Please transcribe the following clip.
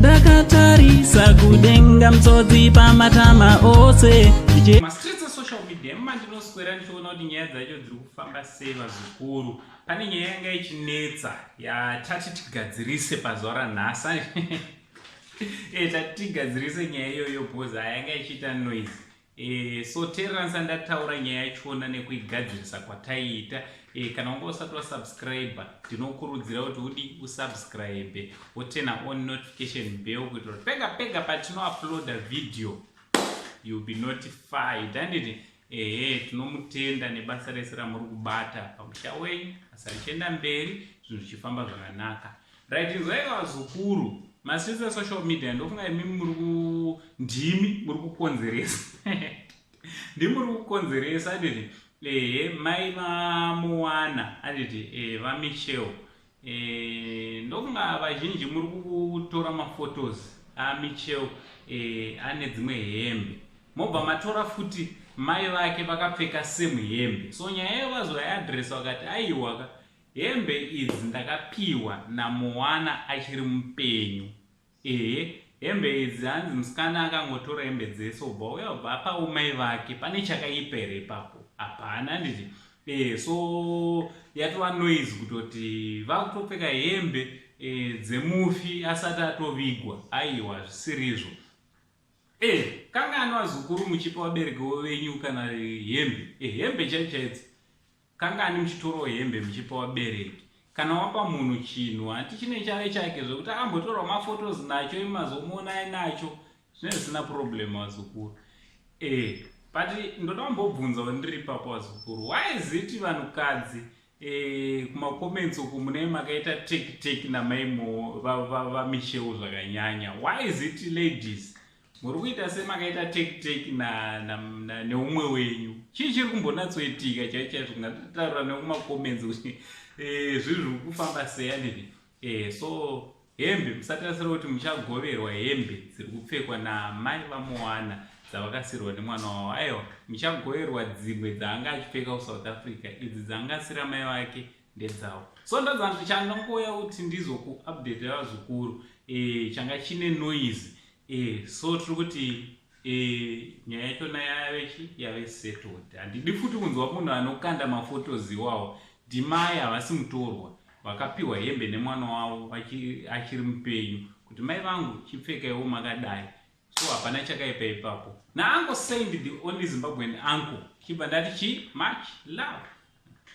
ndakatarisa kudenga mtsodzi pamatama ose ndema ndinoswera ndichiona kuti nyaya dzacho dziri kufamba sei vazukuru pane nyaya yanga ichinetsa yatati tigadzirise pazuva ranhasi e eh, tati tigadzirise nyaya iyoyo bhoza yanga ichiita noise E, so teeransa ndataura nyaya yachona nekuigadzirisa kwataiita e, kana wanga usati wasubscribe ndinokurudzira kuti udi usubscribe wotena on notification bell kuitira kuti pega pega patinouploada video youll be notified handiti ehe tinomutenda nebasa rese ramuri kubata pamusha wenyu basa richienda mberi zvinhu zvichifamba zvakanaka Right inzwa ika vazukuru masisi esocial media ndofunga imi muri ku ndimi muri kukonzeresa ndimi muri kukonzeresa anditi ehe mai vamuwana anditi e, vamichel e, ndofunga vazhinji muri kutora mafotos amichel e, ane dzimwe hembe mobva matora futi mai vake vakapfeka same hembe so nyaya yevazoyaadresa vakati aiwaka Hembe idzi ndakapihwa naMoana achiri mupenyu. Ehe, hembe idzi hanzi musikana akangotora hembe dzese obva uya obva apa umai vake pane chakaipa here ipapo hapana handiti e, so yatova noise kutoti vakutopfeka hembe e, dzemufi asati atovigwa aiwa zvisiri izvo e, eh, kangani vazukuru muchipa vabereki venyu kana hembe e, hembe chaichaidzo Kangani muchitorawo hembe muchipa vabereki? Kana wapa munhu chinhu hati chine chave chake zvekuti ambotorwa maphotos nacho imazomuona ainacho zvine zvisina problem vazukuru. Eh, but ndoda kumbobvunza wandiri ipapo vazukuru. Why is it vanhukadzi eh, kumacomments uku mune makaita take take namaimo vamishewo zvakanyanya. Why is it ladies? muri kuita semakaita take take na, na, na neumwe wenyu chii chiri kumbonatsoitika chai chaizvo kungataura nekumacomments kuti eh, zvinhu zviri kufamba seya nini eh, so hembe musatarisira kuti muchagoverwa hembe dziri kupfekwa namai vamowana dzavakasirwa nemwana wavo aiwa muchagoverwa dzimwe dzaanga achipfeka kusouth africa idzi dzaanga asira mai vake ndedzawo so ndadza kuti chandangouya kuti ndizokuupdate vazukuru e, changa chine noise e, so tiri kuti e, nyaya yachona yave chi yave settled handidi futi kunzwa munhu anokanda mafotos iwawo ndimai havasi mutorwa vakapiwa hembe nemwana wavo achiri mupenyu kuti mai vangu chipfekaiwo makadai so hapana chakaipa ipapo naango saint the only zimbabwean uncle chibva ndati chi much love